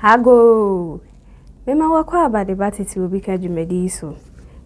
Agoo! Mema wɔakɔ aba de ba tete obi ka dwumadi yi so.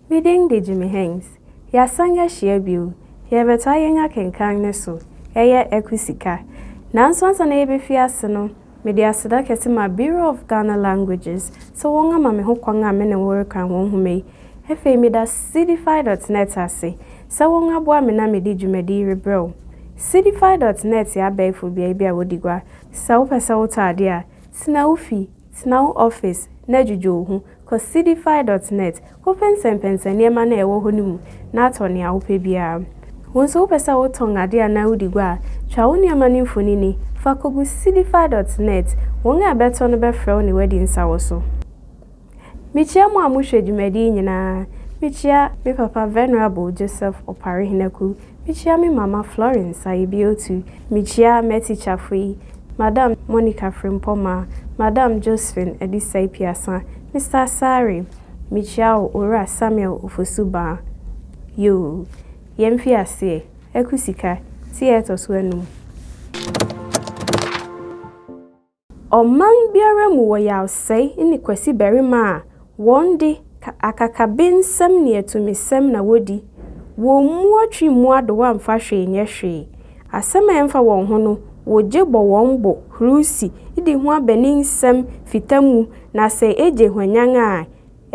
Me din de Jimmy Hengs. Yɛasan ahyia bio. Yɛrebɛtoa yɛn akenkan no so. Ɛyɛ Aku Sika. Nanso ansa na yɛbɛfi ase no, Mede aseda kɛse ma Bureau of Ghana Languages sɛ wɔn ama me ho kwan a me ne wo rekan wɔn nhoma yi. Ɛfei meda Cdfi dot net ase sɛ wɔn aboa me na mede dwumadi yi rebrɛ wo. Cdfi dot net yɛ abɛɛfo beae bi a wɔdi gua. Sɛ wopɛ sɛ wotɔ ade a, tena wo fi, tena wo office, na dwudwo wo ho. Kɔ Seedify dot net, kɔpɛnsɛmpɛnsɛn nneɛma no a ɛwɔ hɔ no mu na tɔ nea wopɛ biara. Wo nso wopɛ sɛ wotɔn ade anaa wodi gua a, twa wo nneɛma no mfonini fa kogu Seedify dot net, wɔn a ɛbɛtɔ no bɛfrɛ wo ne woadi nsa wɔ so. Mikyia mo a mohwɛ dwumadi yi nyinaa, mikyia me papa Venerable Joseph Opare Henaku Mikyia me mama Florence Ayebiotu, mikyia m'atikyafo yi, Madam Monica Frimpong Maa, Madam Josephine Adisai Piasa, Mister Asare, mikyia wo Owura Samuel Ofosu Baa. Yoo, yɛn mfiaseɛ, Aku Sika, ti a ɛtɔ so anum. Ɔman biara mu wɔ yawsɛe ne kwasi barima a wɔn de, akakabensɛm ne atumisɛm na wodi. Wɔmmua twi mmu adowa mfa hwee nyɛ hwee. Asɛm a ɛmfa wɔn ho no, wogye bɔ wɔn bo, hurusi, di ho abaninsɛm, fita mu, na sɛ egye hwanyann a,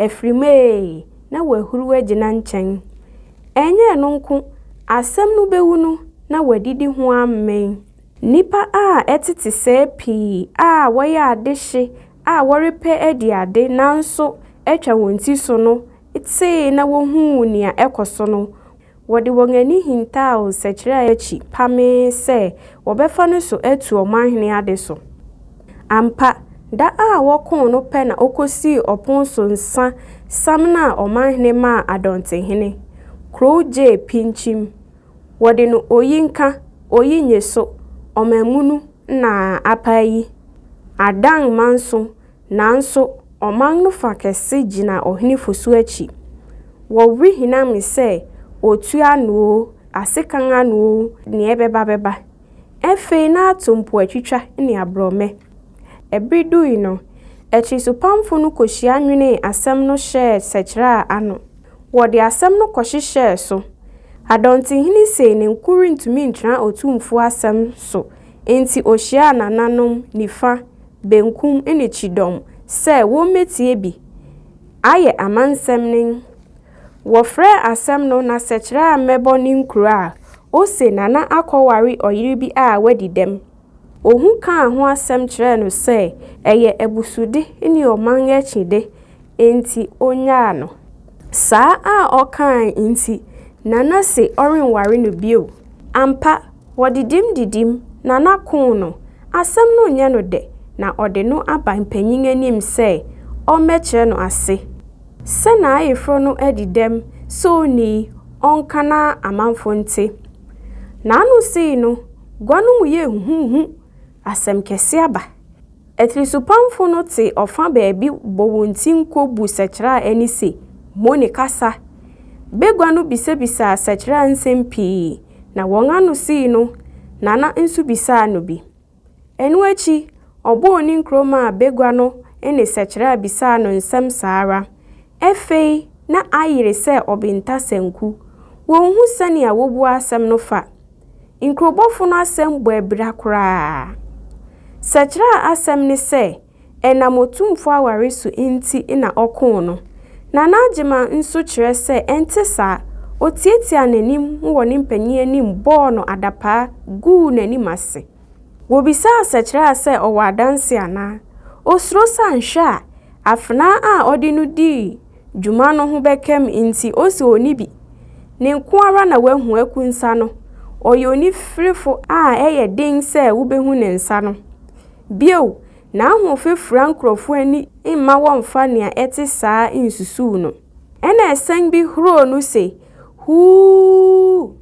afiri mu ee, na wɔahuruw agyina nkyɛn. Ɛnyɛ ɛno nko, asɛm no bewu no, na wɔadidi ho amee. Nnipa a ɛtete sɛɛ pii a wɔyɛ adehye a wɔrepɛ adi ade nanso atwa wɔn ti so no tee na wohuu nea ɛkɔ so no, wɔde wɔn ani hintaw nsɛkyerɛ a akyi pamee sɛ wɔbɛfa no so atu ɔmanhene ade so. Ampa, da a wɔkoo no pɛ na okosii ɔpon so nsa samanaa ɔmanhene maa Adɔntehene, kurow gyee pinkyim, Wɔde no oyi nka oyi nye so ɔmanmunu na apae yi adan manso nanso ɔman no fa kɛse gyina ɔhene Fosu akyi. Wɔ were hinam sɛ otua no oo, asekan ano oo, nea ɛbɛba bɛba. Afei na ato mpoatwitwa ne aborɔmɛ. Bere dui no, akyiresopamfo no kohyia nwenee asɛm no hyɛɛ sɛkyerɛa ano. Wɔde asɛm no kɔhyehyɛɛ so. Adɔntehene sei ne nko rentumi ntra Otumfo asɛm so enti ohyiaa nananom nifa, benkum ne kyidɔm sɛ wommetie bi ayɛ amansɛm no. Wɔfrɛ asɛm no n'asɛkyerɛ a mɛbɔ ne nkuro a, ose Nana akɔware ɔyere bi a wadi dɛm. Ohu kaa ho asɛm kyerɛɛ no sɛ ɛyɛ abusude ne ɔman akyide nti onyaa no. Saa a ɔkaae nti, Nana se ɔrenware no bio. Ampa, wɔdidim didim, Nana koo no. Asɛm no nyɛ no dɛ na ɔde no aba mpanyin anim sɛ ɔmmɛkyerɛ no ase. Sɛ n'ayeforɔ no adi dɛm sɛ onii, ɔnka na amanfoɔ nte. N'ano sei no, gua no mu yɛ huhuuhu, asɛm kɛse aba. Atirisopamfo no te ɔfã baabi bɔ wɔn ti nko bu Sɛkyerɛ a ɛne se, Mo ne kasa. Bagua no bisabisaa Sɛkyerɛ a nsɛm pii, na wɔn ano sei no, Nana nso bisaa no bi. Ɛno akyi, ɔbɔɔ ne nkuro maa bagua no ne sɛkyerɛ a bisaa no nsɛm saa ara. Ɛfei na ayere sɛ ɔbenta sanku. Wɔnhu sɛnea wɔbua asɛm no fa. Nkurobɔfo no asɛm bɔ abira koraa. Sɛkyerɛ a asɛm ne sɛ ɛnam Otumfoɔ aware so nti na ɔkoo no. Nana Agyeman nso kyerɛ sɛ ɛnte saa, ɔtiatiaa n'anim wɔ ne mpanin anim bɔɔ no adapaa guu n'anim ase. Wɔbisaa Sɛkyerɛa sɛ ɔwɔ adanse anaa. Ɔsuro sɛ anhwɛ a, afenaa a ɔde no dii dwuma no ho bɛka mu nti ɔse ɔnni bi. Ne nko ara na wahu Aku nsa no, ɔyɛ onifirifo a ɛyɛ den sɛ wobɛhu ne nsa no. Bio, n'ahoɔfɛ fura nkurɔfo ani mma wɔmmfa nea ɛte saa nsusuw no. Ɛnna ɛsɛn bi huroo no se, Huu!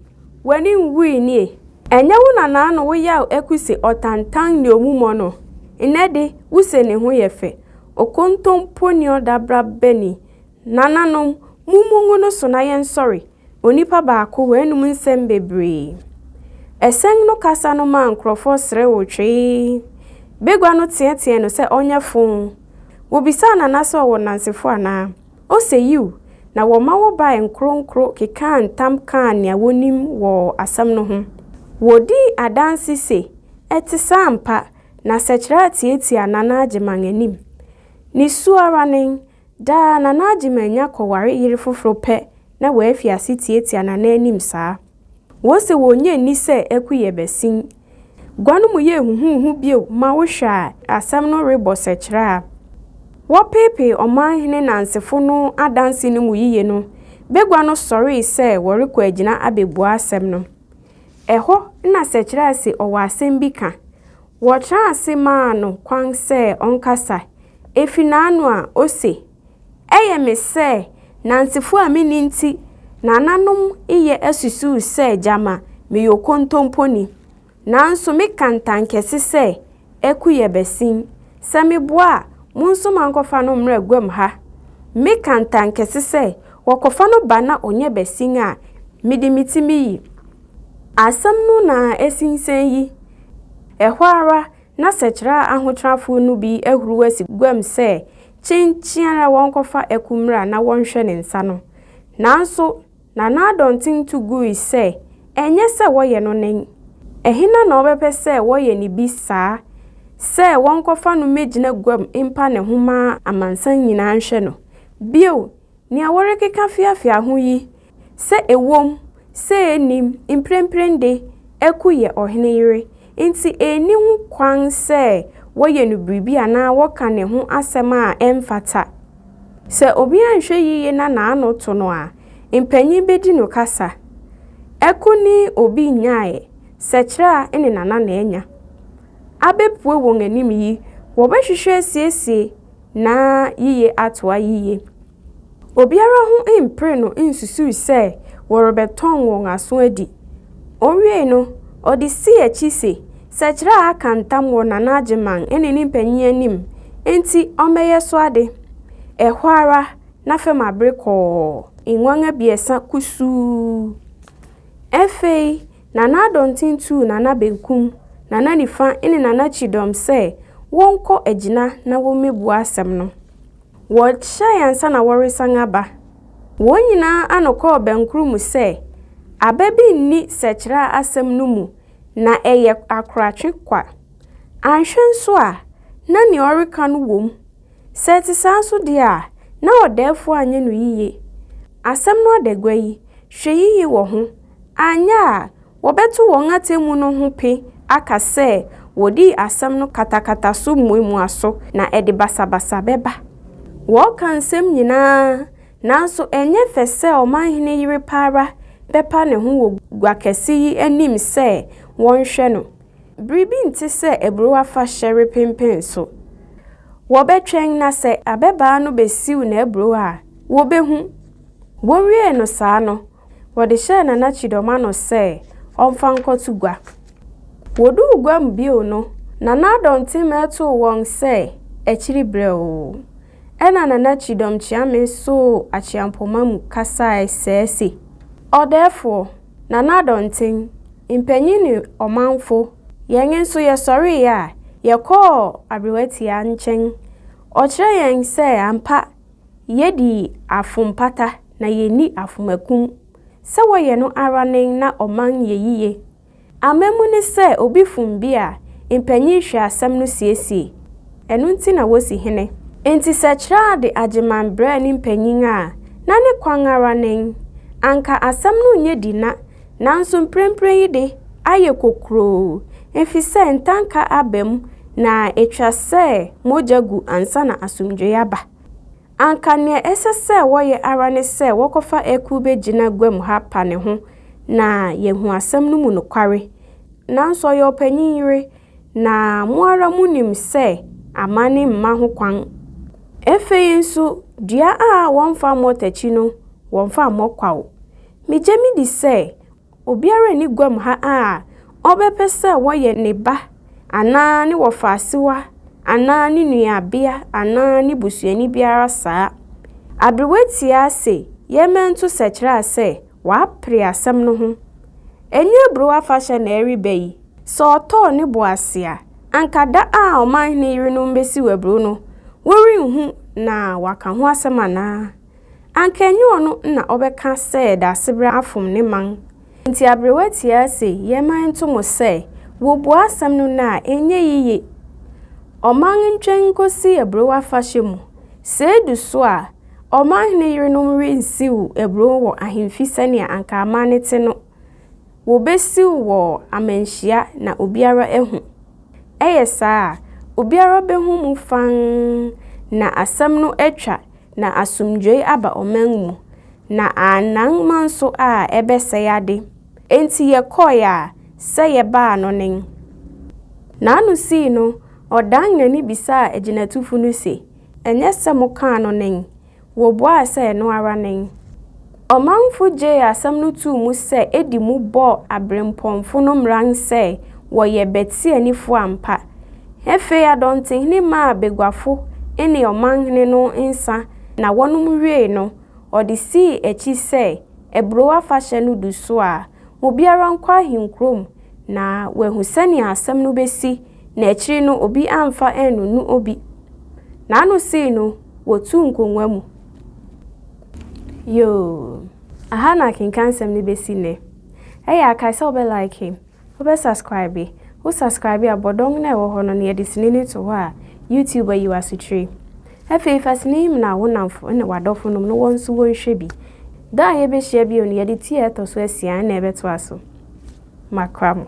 W'ani nwui nie? Ɛnyɛ wo na n'ano wo yaw aku se ɔtantan nea omu mɔ no? Nnɛ de, wuse ne ho yɛ fɛ, okontompo ne ɔdabraba ni, Nananom, mommu ngu no so na yɛnsɔre, onipa baako, w'anom nsɛm bebree. Ɛsɛn no kasa no maa nkurɔfoɔ serewoo twee. Bagua no teɛteɛɛ no sɛ ɔnyɛ foo. Wɔbisaa Nana sɛ ɔwɔ nnansefoɔ anaa. Ose yiw, na wɔma wɔbae nkoronkoro kekaa ntam kaa nea wɔnim wɔ asɛm no ho. Wɔdii adanse se ɛte saa ampa, na sɛkyerɛ a tiatia Nana Agyeman anim. Ne su ara nen, Daa na na Agyeman anya kɔware yere foforo pɛ na wafi ase tiatia nananom saa. Wose wonnye nni sɛ akuyɛ bɛsen gua no mu yɛ huhuuhu bio ma wohwɛ a asɛm no rebɔ sɛkyerɛ a wɔpeepee ɔmanhene nansefo no adanse no mu yiye no, bagua no sɔree sɛ wɔrekɔ agyina abebua asɛm no. Ɛhɔ na sɛkyerɛ a se ɔwɔ asɛm bi ka Wɔtraa ase maa no kwan sɛ ɔnkasa. Efi n'ano a, ose, Ɛyɛ me sɛ Nansefoɔ a menni nti nananom yɛ asusuw sɛ gyama meyɛ okontomponi. Nanso meka ntankɛse sɛ aku yɛ bɛsen sɛ meboa a mo nso moankɔfa no mmra guam ha. Meka ntankɛse sɛ wɔkɔfa no ba na ɔnyɛ bɛsen a mede me ti meyi. Asɛm no na ɛsinsɛn yi, ɛhɔ ara na sɛkyerɛ a ahotrafo no bi ahuruw asi guam sɛ kyenkyen ara wɔnkɔfa aku mmra na wɔnhwɛ ne nsa no. Nanso na n'adɔnten tu gui sɛ ɛnyɛ sɛ wɔyɛ no nen. Ɛhena na ɔbɛpɛ sɛ wɔyɛ no bi saa sɛ wɔnkɔfa no mmegyina guam mpa ne ho ma amansan nyinaa nhwɛ no? Bio, nea wɔrekeka feafea ho yi Sɛ ɛwom sɛ yennim mprempren de, Aku yɛ ɔhene yere, enti enni ho kwan sɛ wɔyɛ no biribi anaa wɔka ne ho asɛm a ɛmfata. Sɛ obi anhwɛ yiye na n'ano to no a, mpanyin bedi no kasa. Aku ne obi nnyae, Sɛkyerɛ a ɛne Nana na anya. Abepue wɔn anim yi, wɔbɛhwehwɛ asiesie na yiye atoa yiye. Obiara ho mperee no nsusui sɛ wɔrebɛtɔn wɔn aso adi. Owiei no, ɔde sii akyi se, Sɛkyerɛ a aka ntam wɔ Nana Agyeman ne ne mpanyin anim nti ɔmmɛyɛ so ade. Ɛhɔ ara na fam abere kɔɔ. Nguan abiɛsa kusuu. Afei Nana Adɔnten tuu Nana Benkum, Nana Nifa ne Nana Kyidɔm sɛ wɔnkɔ agyina na wommebua asɛm no. Wɔhyiae ansa na wɔresan aba. Wɔn nyinaa ano kɔɔ bɛnkoro mu sɛ, Aba bi nni sɛkyerɛ a asɛm no mu, na ɛyɛ akoratwe kwa. Anhwɛ nso a, na nea ɔreka no wom. Sɛ ɛte saa nso deɛ a, na ɔdɛɛfoɔ anyɛ no yiye. Asɛm no adagua yi, hwɛ yiye wɔ ho, anyɛ a, Wɔbɛto wɔn atemmu no ho pe aka sɛ wɔdii asɛm no katakata so mmuamuaso, na ɛde basabasa bɛba. Wɔreka nsɛm nyinaa, nanso ɛnyɛ fɛ sɛ ɔmanhene yere pa ara bɛpa ne ho wɔ gua kɛse yi anim sɛ wɔnhwɛ no. Biribi nte sɛ aburow afahyɛ repenpen so. Wɔbɛtwɛn na sɛ ababaa no besiw n'aburow a, wobehu. Wowiee no saa no, Wɔde hyɛɛ Nana Kyidɔm ano sɛ ɔmfa nkɔto gua. Wɔduu gua mu bio no, Nana Addo Ntenmɛ too wɔn sɛ akyiri brɛoo. Ɛnna Nana Kyidɔm Kyeame soo akyeampoma mu kasae sɛɛ se, Ɔdɛɛfoɔ, Nana Addo Ntem, mpanyin ne ɔmanfo, yɛn nso yɛsɔreeɛ a, yɛkɔɔ Aberewatia nkyɛn. Ɔkyerɛɛ yɛn sɛ ampa Yedi afompata na yenni afomakum sɛ wɔyɛ no ara nen na ɔman yɛ yiye. Amammu ne sɛ obi fom bi a, mpanyin hwɛ asɛm no siesie. Ɛno nti na wosi hene. Enti sɛ Kyraa de Agyeman brɛɛ ne mpanyin a, na ne kwan ara nen. Anka asɛm no nyɛ di na Nanso mprempren yi de, ayɛ kokuroo efisɛ ntanka aba mu na etwa sɛ mogya gu ansa na asomdwoe aba. Anka nea ɛsɛ sɛ wɔyɛ ara ne sɛ wɔkɔfa akuw begyina guam ha pa ne ho na yɛahu asɛm no mu nokware. Nanso ɔyɛ ɔpanyin yere, na mo ara munim sɛ amanne mma ho kwan. Afei nso, dua a wɔmfa mmɔ takyi no, wɔmfa mmɔ kwaw. Megye me di sɛ obiara nni guam ha a ɔbɛpɛ sɛ wɔyɛ ne ba anaa ne wɔfaasewa anaa ne nuabea anaa ne busuani biara saa. Aberewa tiaa se yɛn mmɛnto sɛkyerɛa sɛ wapere asɛm no ho. Ɛnyɛ aburow afahyɛ na ɛreba yi. Sɛ ɔtɔɔ ne bo ase a, anka da a ɔmanhene yerenom besiw aburow no, worenhu na wɔaka ho asɛm anaa? Anka ɛnyɛ ɔno na ɔbɛka sɛ Daasebrɛ afom ne man nti aberewa tiaa se yɛmma ɛnto mo sɛ wɔbua asɛm no nnɛ a ɛnyɛ yiye. Ɔman ntwɛn nkosi aburow afahyɛ mu, sɛ edu so a ɔmanhene yerenom rensiw aburow wɔ ahemfi sɛnea anka amanne te no. Wɔbɛsiw wɔ amanhyia na obiara ahu. Ɛyɛ saa a, obiara bɛhu mu fann na asɛm no atwa na asomdwoe aba ɔman mu, na annan ma nso a ɛbɛsɛe ade. Enti yɛkɔe a sɛ yɛbaa no nen. N'ano sii no, ɔdan n'ani bisaa agyinatufo no se, Ɛnyɛ sɛ mokaa no nen? Wobuaa sɛ ɛno ara nen. Ɔmanfo gyee asɛm no too mu sɛ edi mu bɔɔ aberempɔnfo no mmran sɛ wɔyɛ Betsianifo ampa. Afei Adɔntehene maa baguafo ne ɔmanhene no nsa na wɔnom wiei no, ɔde sii akyi sɛ aburow afahyɛ no du so a, obiara nkɔ ahenkurom na wahu sɛnea asɛm no besi na akyiri no obi amfa annunu obi. N'ano sii no. Wɔtuu nkongua mu. Yoo. Aha na akenkansɛm no bɛsi nnɛ. Ɛyɛ a, kae sɛ wobɛ like, wobɛ subscribe. Wo subscribe a, bɔ dɔn no a ɛwɔ hɔ no na yɛde sini no to hɔ a, YouTube ayi wo asokyire. Afei fa sini yi mena wo nnamfo ne w'adɔfo nom na wɔn nso wɔnhwɛ bi. Da a yɛbɛhyia bio no, yɛde ti a ɛtɔ so asia na ɛbɛtoa so. Makra mo.